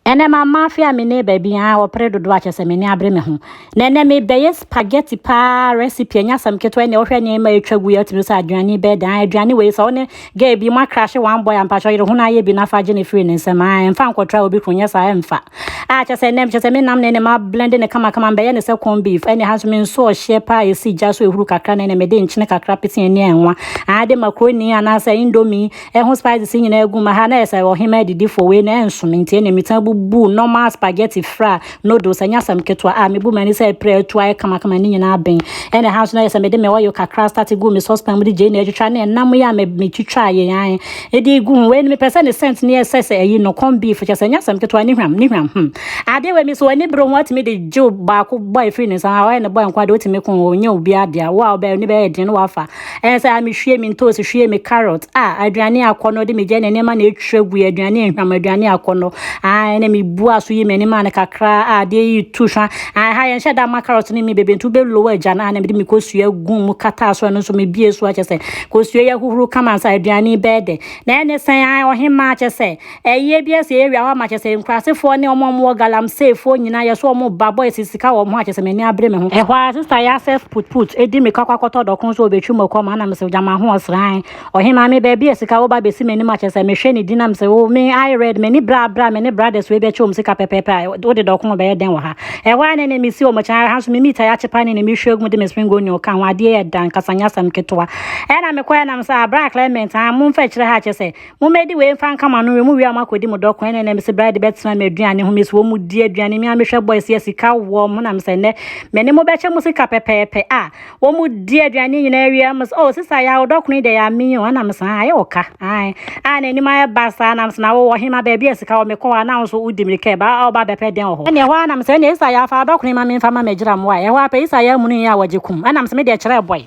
Ɛnnɛ mammafe a me ne baabi ha a wɔpere dodoɔ a kyerɛ sɛ m'ani abere me ho. Na ɛnnɛ mebɛyɛ spaghetti paa recipe ɛnyɛ asɛm ketewa ɛnna wɔhwɛ nneɛma a ɛtwa gu yɛ ɔtumi sɛ aduane bɛɛ dan aduane wei sɛ wo ne gay bi mo akrahye one boy ampakyɛ yere ho no ayɛ bi na fa gye ne firi ne nsɛm aa ɛmfa nkɔtra obi kro nyɛ saa ɛmfa a kyerɛ sɛ ɛnnɛ kyerɛ sɛ me nam na ɛnna ma blende ne kama kama mbɛyɛ ne sɛ corn beef ɛnna ha nso me nso ɔhyeɛ paa ɛsi gya so ɛhuru kakra na ɛnna mede nkyene kakra pete ɛnne ɛnwa aa de makroni anaasɛ indomie Ɛho spices nyinaa agu ma ha na ɛsɛ sɛ ɔhema adidifoɔ wei na ɛnsom nti ɛna mesan bubu normal spaghetti fra noodles ɛnyɛ asɛm ketewa a mebu m'ani sɛ ɛpere atu ayɛ kamakama ne nyinaa ben ɛna ha nso na yɛ sɛ mede me oil kakra start gu me saucepan mu de gyei na atwitwa ne ɛnam yi a metwitwa yɛ yan ɛde gu ho wei no mepɛ sɛ ne scent ne ɛsɛ sɛ ɛyi no corn beef kyɛ sɛ ɛnyɛ asɛm ketewa ne hwam ne hwam hmm adeɛ wei me so ani bere ho atumi de gye baako bɔ ɛfiri ne nsa a ɔyɛ ne bɔ nko a de wotumi ko nyɛ obi adeɛ a wo a wobɛyɛ ne bɛyɛ den no wafa Ɛyɛ sɛ a mehwie me ntoosi, hwie me carrot, a aduane akɔnnɔ de megya ne nneɛma na ɛtwa gu aduane nhwam aduane akɔnnɔ. Ae na mebu aso yi m'anima no kakra a adeɛ yi tu hwa. Ae ha yɛnhyɛ da ma carrot ne mi bebe nti wobɛlow agya no a na mede me kosua gu mu kataa so ɛno nso mebie so akyɛ sɛ kosua yi ahohoro kama nsa aduane bɛyɛ dɛ. Na ɛne sɛn ae ɔhemmaa akyɛ sɛ Ɛyɛ bi a sɛ yɛwie a hɔ ama kyerɛ sɛ nkurasefoɔ ne wɔn a wɔwɔ galamseyfoɔ nyinaa yɛ so wɔn ba boys sika wɔ wɔn ho a kyerɛ sɛ m'ani abere me ho. Ɛhɔ ara sister yɛ asɛf put put di mirika kɔ akɔtɔ dɔko nso ɔbɛtwi mɔkɔ ma na mesɛ gyama ho ɔsran. Ɔhemaa me baabi a sika woba bɛsi m'anim a kyerɛ sɛ mehwɛ ne din na mesɛ oh me I red m'ani bra bra me ne brothers wei bɛkyɛ wɔn sika pɛpɛɛpɛ a wode dɔko a ɔbɛyɛ dɛn wɔ ha. Ɛhɔ ara na ɛnɛ mesi wɔn akyi na ha nso me meat a yɛakyepa ne ne me hwɛ gu de me spring onion ka ho adeɛ yɛ dɛ ankasa nyɛ asɛm ketewa. Ɛna mekɔɛ na mesɛ ah bra Clement ah momfa nkyerɛ ha a kyerɛ sɛ Mommɛdi wei mfa nka mo ano nwe mo wie a moakɔdi mo dɔ ko ɛna ɛnɛ mesɛ berɛ de bɛtena me aduane ho mesuo mu di aduane me a mehwɛ boys yɛ sika wɔ mo na mesɛ nnɛ me ne mo bɛkyɛ mo sika pɛpɛɛpɛ a wɔn mu di aduane nyinaa wie a mesɛ oh sisa yɛ a wodɔ kono yi deɛ yɛ ame o ɛna mesɛ ayɛ wɔ ka ae a na anim ayɛ ba saa na mesɛ na wowɔ hema baabi a sika wɔ mekɔ hɔ a na nso wodi mmirika ɛba a woba bɛpɛ dɛn wɔ hɔ ɛne ɛhɔ a na mesɛ ɛne sisa yɛ afa wodɔ kono yi ma memfa ma magyira mmoa ɛhɔ a pɛ sisa yɛ amunu yi a wɔgye kum ɛna mesɛ me deɛ kyerɛ boy